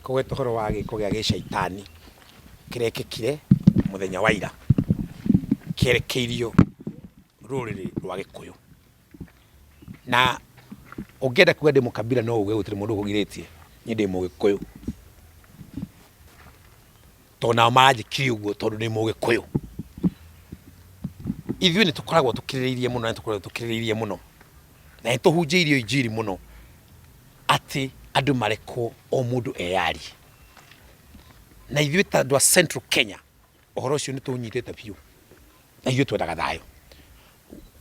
Kũgweta ũhoro wa gĩĩko gĩa gĩcaitani kĩrekĩkire mũthenya wa ira kĩerekeirio rũrĩrĩ rwa Gĩkũyũ. Na ũngĩenda kuga ndĩ mũkabira no uge gũtirĩ mũndũ ũkũgirĩtie, niĩ ndĩ Mũgĩkũyũ. tondũ nao maranjĩkire ũguo tondũ nĩ mũgĩkũyũ ithuĩ nĩ tũkoragwo tũkirĩrĩirie mũno na tũkoragwo tũkirĩrĩirie mũno na nĩ tũhunjĩirio injiri mũno atĩ andũ marekwo o mũndũ eyarie na ithuĩ ta andũ a central kenya ũhoro ũcio nĩ tũnyitĩte biũ na ithuĩ twendaga thayũ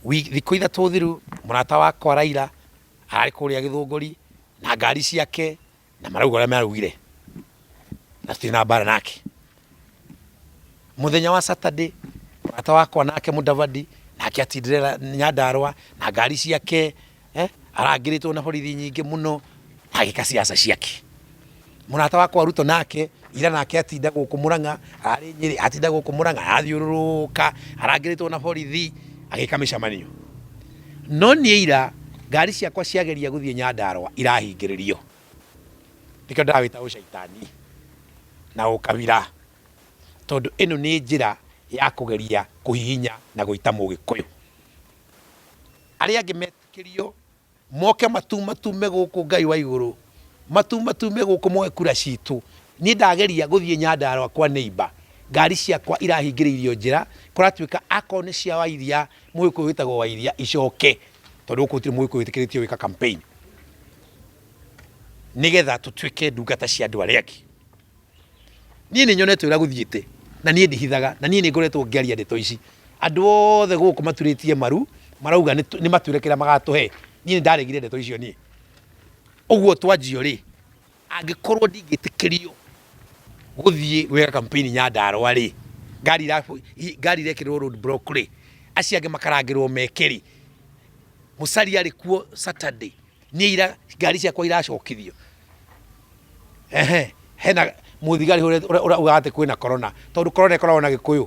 Wi- thikũ ithatũ thiru mũrata wakwa raira ararĩ kũrĩa gĩthũngũri na ngari ciake na marauga ũrĩa maraugire na citirĩ na mbara nake muthenya wa saturday mũrata wakwa nake mudavadi nake atindire nyandarwa na ngari ciake eh, arangĩrĩtwo na borithi nyingĩ mũno na agĩka ciaca ciake mũrata wakwa ruto nake ira nake atinda gũkũ mũrang'a arĩ nyĩrĩ atinda gũkũ mũrang'a arathiũrũrũka arangĩrĩtwo na borithi agĩka mĩcemanio No niĩ ira ngari ciakwa ciageria gũthiĩ Nyandarũa irahingĩrĩrio, nĩkĩo ndĩrawĩta ũcaitani na ũkabira, tondũ ĩno nĩ njĩra ya kũgeria kũhihinya na gũita Mũgĩkũyũ. Arĩa angĩ metĩkĩrio moke matumatume gũkũ Ngai wa igũrũ, matumatume gũkũ moe kura citũ. Niĩ ndageria gũthiĩ Nyandarũa kwa neighbour, ngari ciakwa irahingĩrĩirio njĩra, kũratuĩka akorwo nĩ cia Wairia Mũgĩkũyũ wĩtagwo Wairia icoke tondũ gũkũ gũtirĩ mũgĩkũyũ wĩtĩkĩrĩtio gwĩka campaign nĩgetha tũtuĩke ndungata cia andũ arĩa angĩ. Niĩ nĩ nyonete ũrĩa gũthiĩte na niĩ ndihithaga na niĩ nĩ ngoretwo ngĩaria ndeto ici. Andũ othe gũkũ maturĩtie maru marauga nĩ- nĩ matwĩre kĩrĩa magatũhe. Niĩ nĩ ndaregire ndeto icio niĩ. Ũguo twanjio rĩ, angĩkorwo ndingĩtĩkĩrio gũthiĩ gwĩka kampeni Nyandarũa rĩ, ngari irabu- i- ngari irekĩrĩrwo road block rĩ, acio angĩ makarangĩrwo meke rĩ, Musalia arĩ kuo Saturday, niĩ ira ngari ciakwa iracokithio ehe hena mũthigari ũrĩa ũrĩa ũrĩa ugaga atĩ kwĩna corona tondũ corona ĩkoragwo na gĩkũyũ